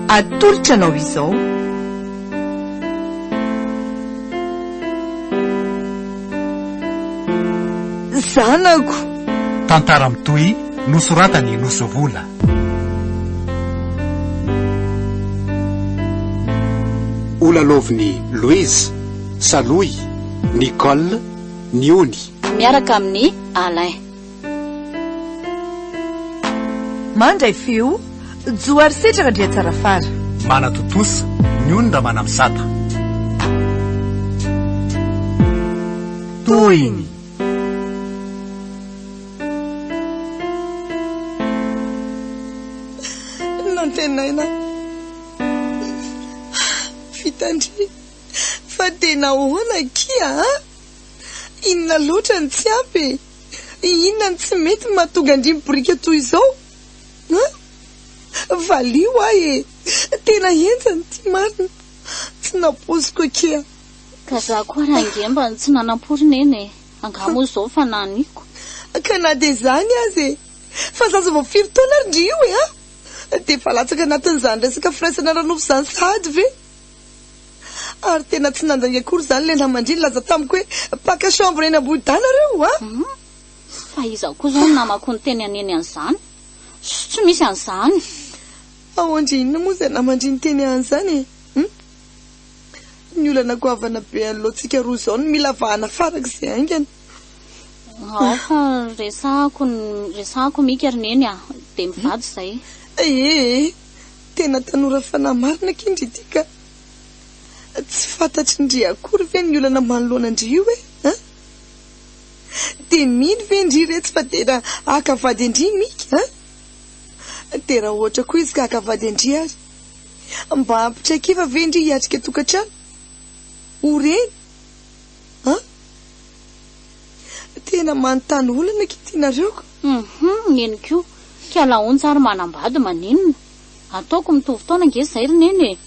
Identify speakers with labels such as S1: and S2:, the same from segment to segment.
S1: Atolotra anao izao. Zanako! Tantara
S2: mitohy nosoratan'i Nosovola.
S3: Ho lalaovin'i Louise, Salohy, Nicole, ny ony. Miaraka amin'i
S4: Alain.
S1: Mandray feo, jo ary setra Randriatsarafara. Manatontosa,
S2: ny ony Ramanamizata.
S1: Tohiny.
S5: Nantenaina fitandremana. Fa dia nahoana akia a? Inona loatra no tsy ampy e? Inona no tsy mety mahatonga andrimo boriky toy izao a? Valio ahy e! Tena henjana ity marina, tsy nampoiziko akia. Ka za koa
S4: ary ange mba tsy nanampory neny e! Angaha moa izao fanahiniako? Ka na dia
S5: izany aza e! Fa zaza vao firy taona ary ndry io e a! Dia efa latsaka anatin'izany resaka firaisana ara-nofo izany sahady ve? Ary tena tsy nandainga akory izany ilay namandria nilaza tamiko hoe mpaka chambre eny Ambohidahy nareo a! Hum, fa
S4: iza koa izao ny namako niteny haneny an'izany? Tsy misy an'izany! Ahoan
S5: dry inona moa izay namandria niteny an'izany e? Hum, ny olana goavana be anoloantsika roa izao no mila vahana farak'izay haingana. Ao
S4: fa resahako ny resahako mika ry neny a! Dia mivady izay. Ee!
S5: Tena tanora fanahy marina akia ndry ity ka! Tsy fantatry ndry akory ve ny olana manoloana ndry io e? An! Dia mino ve ndry iretsy fa tena haka vady an-dry Mika an! Dia raha ohatra koa izy ka haka vady an-dry ary, mba hampitraikeva ve ndry hiatrika tokantrano? Ho reny? An? Tena manontany olana aky ity nareo ka. Hum neny koa
S4: ka laonja ary manambady maninona? Ataoko mitovy taona ange zay ry neny e!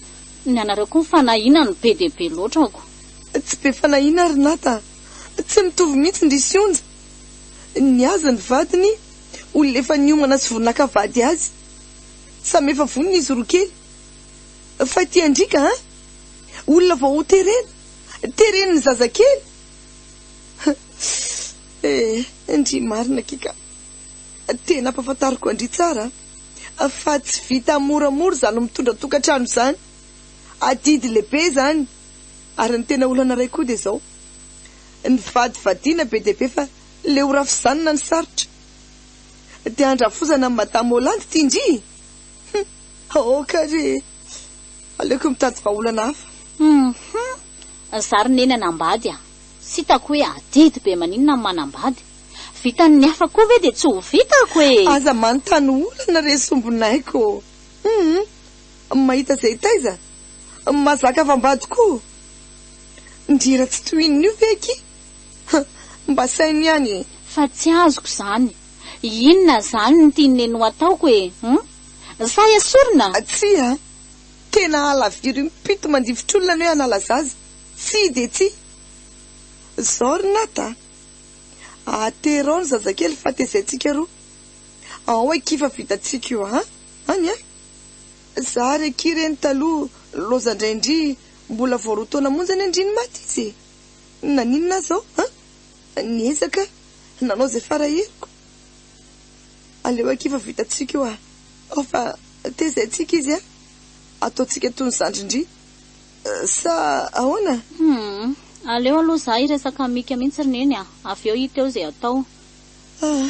S4: Ny anareo koa fanahiana no be dia be loatra ako. Tsy be
S5: fanahiana ry Nata a! Tsy mitovy mihitsy ndry Sionja! Ny azy ny vadiny olona efa niomana sy vao naka vady azy. Samy efa vonona izy roa kely. Fa ity andriaka an! Olona vao ho terena. teren'ny zazakely eh ndry marina akia ka tena ampafantariko an-dry tsara fa tsy vita moramora izany mitondra tokantrano izany adidy lehibe izany ary ny tena olana iray koa dia izao ny vadivadiana be dia be fa le ho rafizanana ny sarotra dia andrafozana an'i madame Hollande ity ndry Hum! Aoka re e! Aleoko mitady vahaolana hafa. Hum! Ry zary neny
S4: hanambady a! Tsy hitako hoe adidy be maninona ny manambady? Vitan'ny hafa koa ve dia tsy ho vitako e! Aza manontany
S5: olana re sombinaiko ô! Hum! Mahita izay taiza? Mahazaka avambady koa ô! Ndry raha tsy tohinina io ve akia? Hum! Mba saino ihany e! Fa tsy azoko
S4: izany! Inona zany ny tian'i Neny ho ataoko e? Hum? Sa esorina? Tsia a!
S5: Tena halaviry impito mandifotr'olona ny hoe hanala zaza. Tsia dia tsia. Zao ry Nath a! Aterao ny zazakely fa tezaintsika roa. Ao akia fa vitantsika io a! Any a! Za ary akia re ny taloha loza ndray ndry mbola vao roa taona monja ny andriny maty izy e! Naninona aza aho a! Niezaka nanao izay fara heriko, aleo akia fa vitantsika io ah. Ao fa tezainsika izy ah, ataontsika toy ny zandry ndry sa ahoana? Humm,
S4: aleo aloha za hiresaka amika mihitsy ry neny ah, avy eo hita eo izay atao. Ah,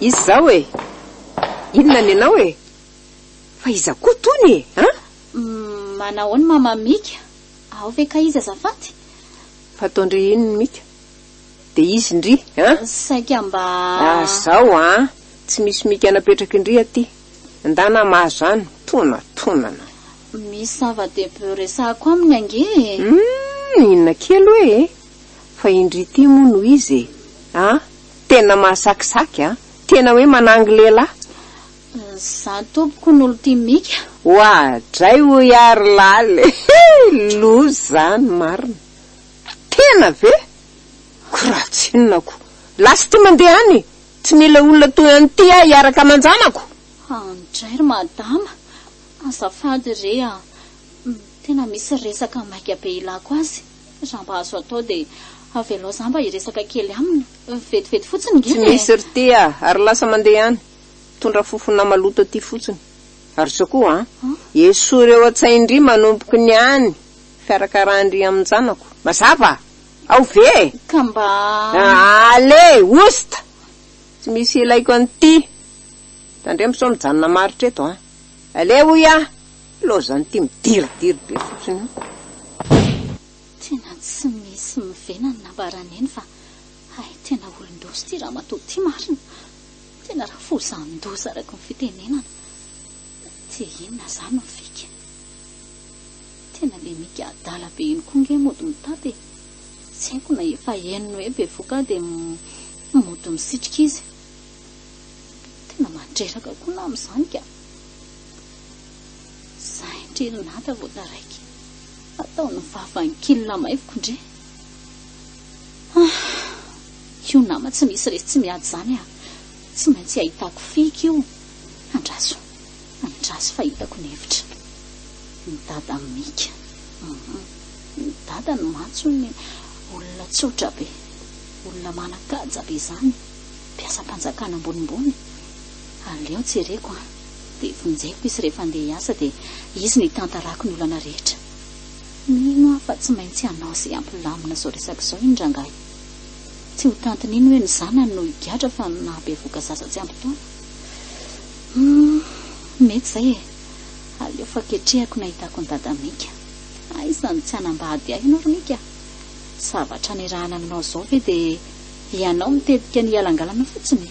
S6: Iza zao e? Inona ny anao e? Fa iza koa tony e? An?
S4: Manao ahoana mama Mika? Ao ve kay izy azafady? Fataon-dry
S6: iny ny Mika. Dia izy ndry an? Saika mba.
S4: Ah zao an! Tsy
S6: misy Mika napetrak'indry aty. Ndana mah zany, tonatonana.
S4: Misy zava-dehibe resahako aminy ange e. Hum,
S6: inona kely hoe e? Fa indry ity moa no izy e! A! Tena mahasakisaky a! Tena hoe manangy lehilahy!
S4: Za tompoko no lty mika. Oa dray
S6: hoy aho ry laly e! Loza zany marina! Tena ve? Ko raha tsinona ko! Lasa ity mandeha any e! Tsy mila olona toy an'ity aho hiaraka aman-janako! Any dray ry
S4: madama! Azafady re a! Tena misy resaka maika be ilako azy! Za mba azo atao dia avelao za mba hiresaka kely aminy, vetivety fotsiny ngina e! Tsy
S6: misy ry ty a! Ary lasa mandeha any, mitondra fofona maloto aty fotsiny. Ary zao koa an! Esory eo an-tsain-dry manomboky ny any fiarakarahan-dry amin-janako. Mazava? Ao ve e! Ka mba.
S4: Allez!
S6: Oust! Tsy misy ilaiko an'ity! Tandremo sao mijanona maritra eto an! Allez hoy aho! Lozan'ny ty midiridiry be fotsiny io. Tena
S4: tsy misy mivenany nambara neny fa hay tena olondoza ty ramatoa ty marina. Tena rafozandoza araky ny fitenenana. Dia inona zany no fika? Tena le mika adala be iny koa nge mody mitapy e. Tsy haiko na efa henony hoe bevoka dia mody misitrika izy. Tena mandreraka koa na amin'izany ka. Sahy ndry ry Nata vao taraiky hatao ny vavan'ny kil lamaiviko ndry ah! Io nama tsy misy resy tsy miady zany ah! Tsy maintsy ahitako fika io andraso andraso fa hitako ny hevitra ny dada Mika uhm ny dadany mantsy ony olona tsotra be olona manakaja be zany mpiasam-panjakana ambonimbony Aleo ny jereko an! Dia vonjeko izy rehefa handeha hiasa dia izy no hitantarako ny olana rehetra. Mino aho fa tsy maintsy hanao izay hampilamina izao resaka izao iny rangahy. Tsy ho tantiny iny hoe ny zanany no higadra fa ny nahabevoka zaza tsy ampy taona. Humm! Mety izay e! Aleo fa ketrehako ny hahitako ny dada Mika. Aiza no tsy hanambady ahy ianao ry Mika? Zavatra nirahana aminao izao ve dia ianao mitetika ny hialangalana fotsiny?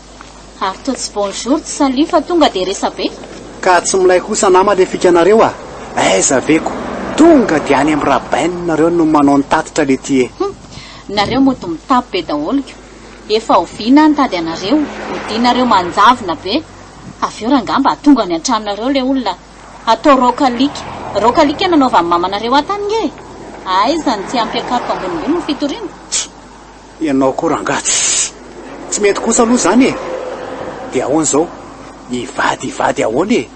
S4: Ary toa tsy bonjour tsy salut fa tonga dia resa be. Ka tsy milay
S3: kosa nama le fikanareo a! Aiza ve ko! Tonga dia any am Rabain nareo no manao ny tatitra lety e! Hum! Nareo
S4: mody mitapy be daholo ko! Efa oviana aho nitady anareo, odianareo manjavona be! Avy eo rangamba atongany an-tranonareo le olona atao raok'alika, raok'alika nanaovan'ny mamanareo ahy tany nge e! Aiza ny tsy hampiakaroka ambonimbony ny fitoriana?
S3: Ianao koa rangah tsy mety kosa aloha izany e! Dia ahoana izao? Hivady hivady ahoana e!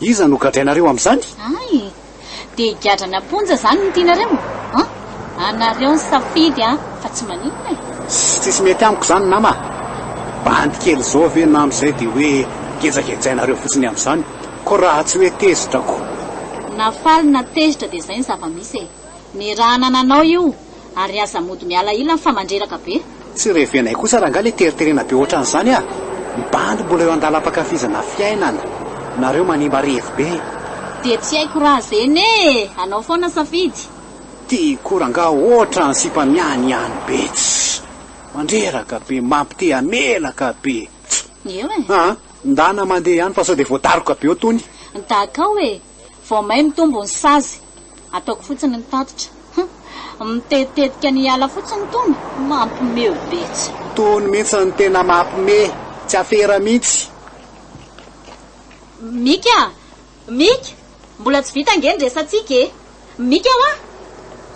S3: Iza no gadrainareo amin'izany? Ay!
S4: Dia gadra namponja izany no tianareo an! Anareo ny safidy an! Fa tsy maninona e! Tsisy mety
S3: amiko izany nama a! Bandy kely izao ve na amin'izay dia hoe gejagejainareo fotsiny amin'izany ko raha tsy hoe tezitra ko! Na faly
S4: na tezitra dia izay ny zava-misy e! Nirahana ananao io! ary aza mody miala ilany fa mandreraka be. Tsy revenay kosa
S3: rangah le teriterena be otran'izany ah! Ny bandy mbola eo andalam-pankafizana fiainana, nareo manimba revy be. Dia tsy haiko
S4: raha zeny e! Anao foana safidy. Ty koa
S3: rangah otra ny sipa miany iany be tsy! Mandreraka be, mampite hamelaka be tsy! Eo e! Aa
S4: ndana mandeha
S3: ihany fa sao dia voadaroka be eo tony. Dakao e!
S4: Vao may mitombo ny sazy. Ataoko fotsiny ny tatitra. Hum. Mitetetika ny hiala fotsiny itony. Mampimeo betsy. Tony mintsy ny
S3: tena mapme. Tsy afera mintsy.
S4: Mika a! Mika! Mbola tsy vita ange ny resatsika e! Mika hoa!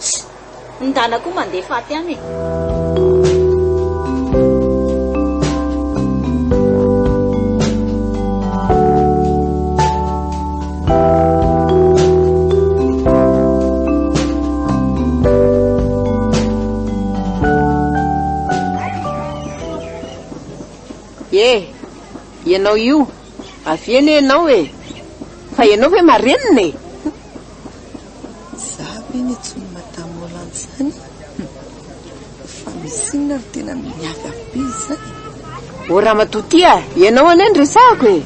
S4: Tsy! Ny dana koa mandeha faty any
S6: e! Ye! Ianao io! Avia anie ianao e! Fa ianao ve marenina e!
S5: Za ve ny tsy ho madame Hollande zany e? Fa misy inona ry tena miavy avy be izany? O
S6: ramatoa ty a, ianao anie no resahako e!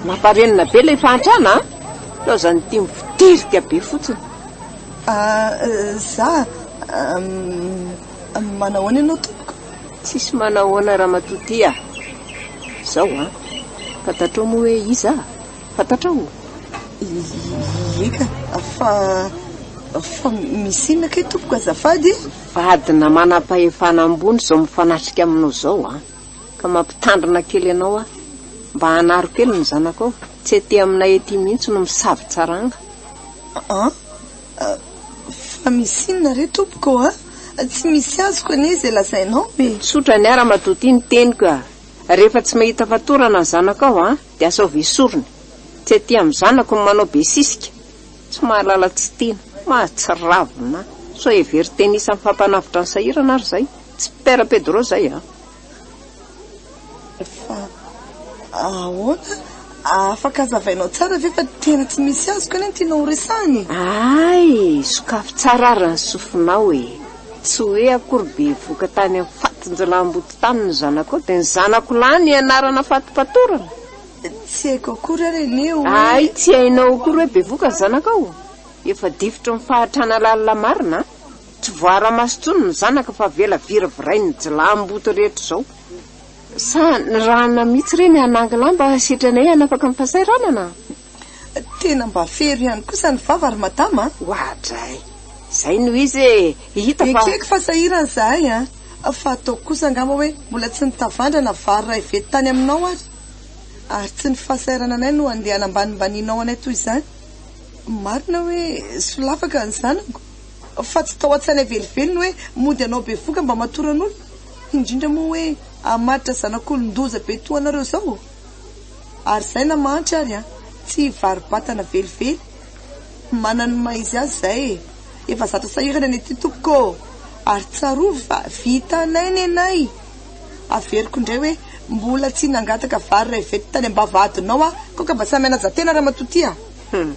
S6: Mamparenina be ilay fahantrana a! Laozan'ny tim vodirika be fotsiny. Ah, za
S5: ah, manahoana ianao tompoko? Tsisy manahoana
S6: ramatoa ty a! Zao a, fantatrao moa hoe iza? Fantatrao?
S5: Ieka, fa fa misy inona kay tompoko azafady e? Vadina
S6: manam-pahefana ambony izao mifanatrika aminao izao an! Ka mampitandrina kely anao aho, mba anaro kely ny zanakao, tsy aty aminay aty mihitsy no misavon-tsaranga. An?
S5: Fa misy inona re tompoko an? Tsy misy azoko anie izay lazainao e! Tsotra ny ahy ramatoa ity
S6: ny teniko a! Rehefa tsy mahita fatorana ny zanakao an! Dia asaovy esorina. Tsy aty amin'ny zanako ny manao be sisika. Tsy mahalala tsy tiana. Mahatsiravina. Sao hevero teny isan'ny fampanavotra ny sahirana ary izay. Tsy Père Pedro izay an.
S5: Fa ahoana? Afaka azavainao tsara ve fa tena tsy misy azoko anie ny tianao horesahina e? Ay!
S6: Sokafy tsara ary ny sofinao e! Tsy hoe akory bevoka tany amin'ny fatin-jiolahimboto tany ny zanakao dia ny zanako lahy ny ianarana fatipatorana? Tsy
S5: haiko akory ary anie hoe. Hay tsy hainao
S6: akory hoe bevoka ny zanakao? Efa difotry ny fahatrana lalina marina an! Tsy voaara-maso intsony ny zanaka fa avela viravirain'ny jiolahimboto rehetra izao. Sa nirahana mihitsy ireny hanangy lamba setry anay hanafaka ny fahasahiranana? Tena
S5: mba fero ihany kosa ny vava ry madama a! Oadray!
S6: Izay no izy e! Hita fa. Ekeko fa sahirana izahay
S5: a! Fa ataoko kosa angamba hoe mbola tsy nitavandra na vary iray vety tany aminao ary. Ary tsy ny fahasahiranana anay no andeha hanambanimbanianao anay toy izany. Marina hoe solafaka ny zanako, fa tsy tao an-tsainay velively ny hoe mody hanao bevoka mba hamatoran'olona, indrindra moa hoe hamaritra zanak'olon-doza be toa anareo izao. ary zay na mahantra ary an! tsy hivaribatana velively, manana ny maha izy azy zay e! efa zatra sahirana ny aty tompoko ô! ary tsarovy fa vitanay ny anay! averiko indray hoe mbola tsy nangataka vary iray vety tany ambavahadinao aho koa ka mba sahy manaja tena ramatoa ty a! Hum!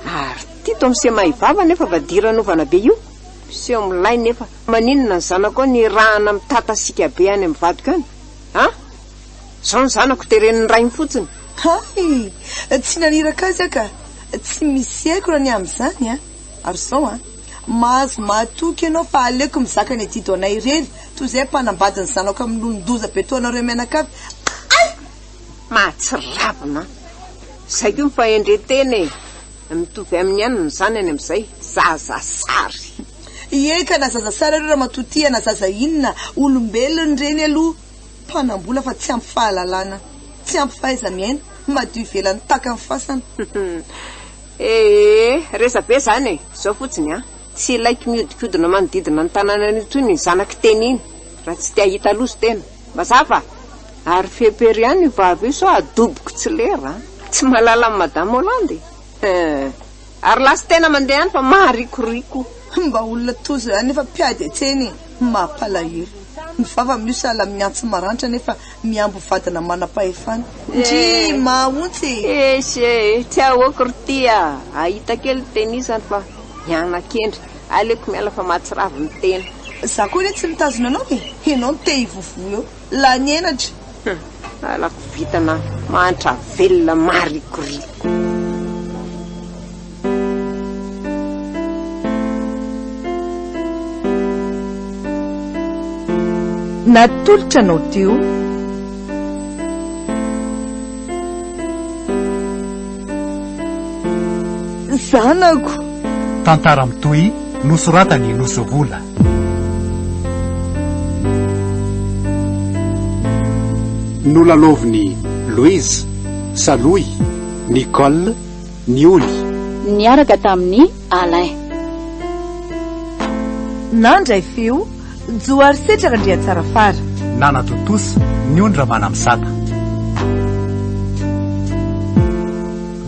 S5: ary
S6: ty to miseho mahay vava nefa vadiran ovana be io! miseho milay nefa maninona ny zanako any hirahana mitata sika be any amin'ny vadiko any an! Zao ny zanako teren'ny rainy fotsiny. Hay!
S5: Tsy naniraka azy aho ka! Tsy misy aiko raha ny amin'izany an! Ary zao an! Mahazo mahatoky ianao fa aleoko mizaka ny adido anay irery toy izay mpanambady ny zanako amin'ny lonin-doza be toa anareo mianakavy. Hay!
S6: Mahatsiravina an! Izay koa ny fahendren-tena e! Mitovy amin'ny anona izany any amin'izay, zaza sary. Ie
S5: ka na zaza sary ary ramatoa tia na zaza inona, olombelona ny reny aloha. Mpanambola fa tsy ampy fahalalana, tsy ampy fahaiza-miaina, madio ivelany tahaka ny fasana. Eeh,
S6: resabe zany e! Zao fotsiny an! Tsy ilaiko mihodinkodina manodidina ny tanànan'io intsony iny zanak'i Teny iny raha tsy te hahita loza tena. Mazava? Ary fepery ihany io vava io sao adoboko tsy lera an! Tsy mahalala an'i Madame Hollande e! Eeh. Ary lasa tena mandeha any fa maharikoriko. Mba olona
S5: toa zay nefa mpiady antsena e! Mampalahelo. Ny vava mio sahala amin'ny antsy maranitra nefa mihambo vadina manam-pahefana. Ndrii! Mahaontsa e! Eish e! Tsy
S6: ahoako ry ty a! Ahita kely ny teny isany fa miana-kendry. Aleoko miala fa mahatsiravy ny tena. Za koa re tsy
S5: mitazona anao e! Enao no te hivovo eo. Lany henatra. Hum, lalako
S6: vintana mahantra velona marikoriko.
S1: Natolotra anao teo.
S5: Zanako. Tantara
S2: mitohy nosoratan'i Nosovola.
S3: Nolalaovin'i Louise, Salohy, Nicole, ny oly. Niaraka
S4: tamin'i Alain.
S1: Nandray feo, Johary Setra Randriatsarafara. Nanatontosa,
S2: ny ony Ramanamisata.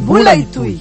S1: Mbola hitohy.